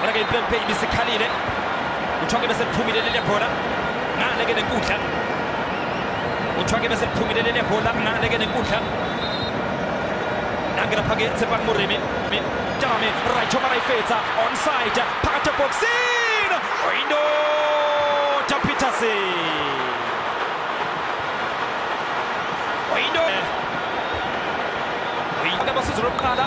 bona ke impempe ibisikhalile kuthiwa ke bese liphumile leli bhola ngale ke nenkundla kuthiwa ke bese liphumile leli bhola ngale ke nenkundla nangena phake tsepang moremi tame raicho maraifetsa onside phakathi boxin oyindo ja peterson oyinto oyinto abasizi lokuqala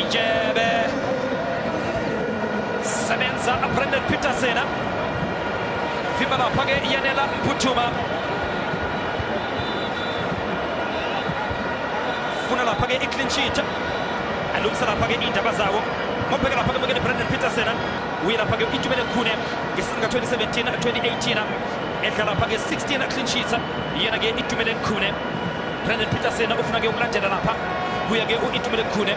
Ijebe sebenza Brandon Peterson vimba lapha ke iyanela Mputhuma funa lapha ke i-clean sheet alungisa lapha ke iy'ndaba zawo mobheke lapha ke bukene Brandon Peterson uye lapha ke itumele khune ngesizini ka-2017 2018 edla lapha ke 16 clean sheets yena ke itumele khune brandon peterson ufuna ke ukulandela lapha kuya ke u-itumele khune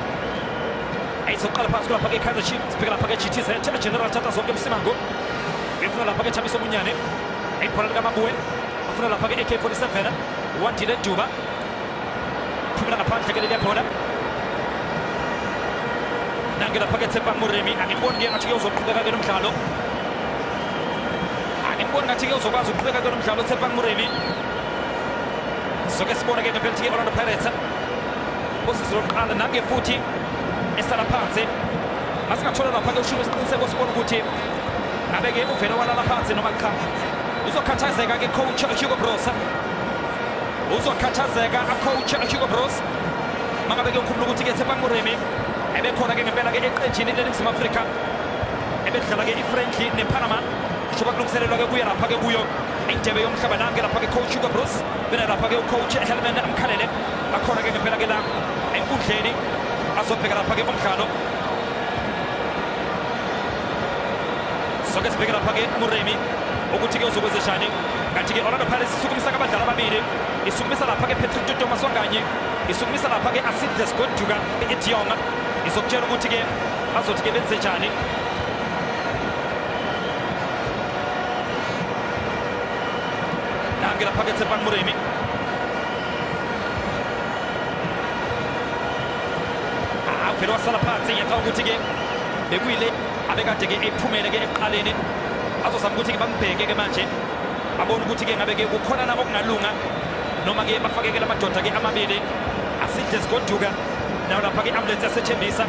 ayizoqala phansi kulapha ke kaizer chief sibheke lapha ke gtz general thatha zonke emsimango ngifuna lapha ke thabiso munyane ibhola likamabuwe afuna lapha ke ak-47 wandile duba phumela ngaphandle ke leliya bhola nange lapha ke tsepang muremi angiboni ke ngathi ke uzoqhubeka ke nomdlalo angiboni ngathi ke uzokwazi ukuqhubeka kulo mdlalo uTsepang Moremi soke sibone ke ngempela ukuthi i-orlando pirates usizi lokuqala nange futhi esala phansi masingathola lapha-ke ushilo isiqiniseko sibona ukuthi ngabe-ke uvele walala phansi noma cha uzokhathazeka-ke coach hugo brosa uzokhathazeka acoach hugo bros mangabe kuyokhumbula ukuthi-ke tsepang moremi ebekhona-ke ngempela-ke eqenjini leli mzima afrika ebedlala ke i-friendly nepanama njengoba kulungiselelwa ke kuye lapha ke kuyo indebe yomhlaba nange lapha ke coach hugo bruce bena lapha ke ucoach helman amkhalele akhona ke ngempela ke la enkundleni azobheka lapha ke umdlalo soke sibheke lapha ke muremi ukuthi ke uzokwenzeshani kanti ke orlando pirates isukumisa ke abadlali ababili isukumisa lapha ke patrick tutomaswanganye isukumisa lapha ke asidles goduka idionga izokutshela ukuthi ke bazothi ke benze njani nangela phakethe pan muremi avele wasala phansi ngiyacaba ukuthi ke bekuyile abekade ke ephumele ke ekuqaleni azozama ukuthi ke bambheke ke manje abone ukuthi ke ngabe ke kukhona na okungalunga noma ke bafakekela amadoda ke amabili asidle sigoduka nayo lapha-ke i-ambulensi yasethembisa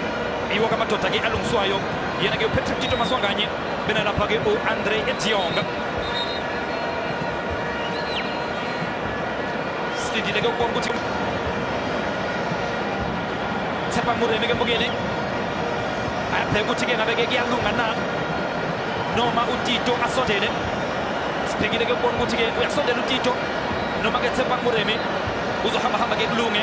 iwo kamadoda-ke alungiswayo yena-ke upatrick tito maswanganye bena lapha-ke u-andre ediong silindile-ke ukubona ukuthi thepha mureme-ke mbukeni ayabheka ukuthi-ke ngabe-ke kuyalunga na noma utito asondele sibhekile-ke ukubona ukuthi-ke uyasondela utito noma-ke thepha mureme uzohambahamba-ke kulunge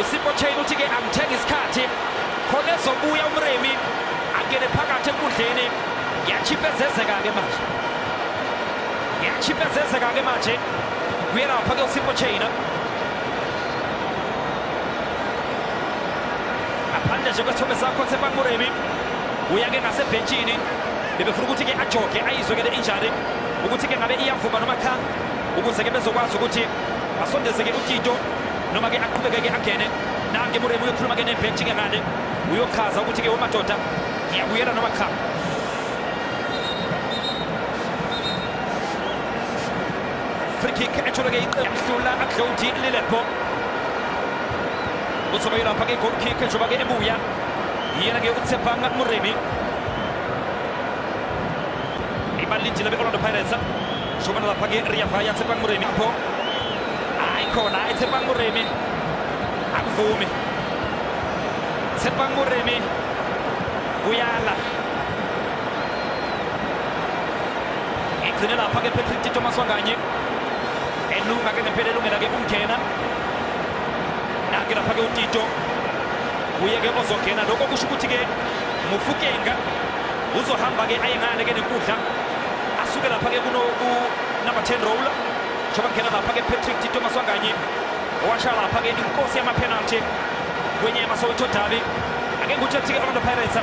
USipho Chain uthi-ke angithenga isikhathi khona ezobuya umremi angene phakathi enkundleni ngiyachiphezezeka-ke manje ngiyachiphezezeka-ke manje kuyelapha ke uSipho Chain ngaphandle nje kwesithombe sakho Tshepang Moremi uya-ke ngasebhentshini bebefuna ukuthi-ke ajoge ayizwe-ke le injury ukuthi-ke ngabe iyavuma noma cha ukuze-ke bezokwazi ukuthi basondeze-ke utito noma ke aqhubekeke angene nange muremu uyokhuluma ke nebhenji ke ngane uyochaza ukuthi ke wemadoda ngiyabuyela noma cha free kick ethole ke iqe yamhlula aklodi lilepo uzobayela lapha ke goal kick njengoba ke ebuya yena ke utsepanga muremi ibalindile be-orlando pirates Shobana lapage riyafa yatsepa nguremi apho hayi khona ayitsepa nguremi akuvumi tsepa nguremi uyala igcine lapha ke Patrick Tito Maswanganye elunga ke ngempela elungela ke ukungena nake lapha ke uTito uye ke ozongena lokho kusho ukuthi ke Mufukenga uzohamba ke aye ngale ke nenkundla asuke lapha ke kuno ku number 10 roller njengoba ngena lapha ke Patrick Tito Maswanganyi owasha lapha ke inkosi yama penalty kwenye yamasoweto derby ake ngikutshe ukuthi ke Orlando Pirates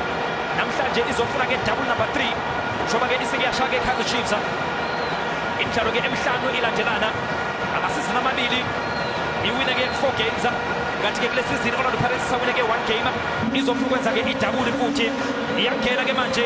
namhlanje izofuna ke double number 3 njengoba ke isekuyasha ke Kaizer Chiefs imidlalo ke emihlanu ilandelana amasizini amabili iwine ke 4 games kanti ke kule sizini Orlando Pirates isawine ke 1 game izofuna ukwenza ke idabuli futhi iyangena ke manje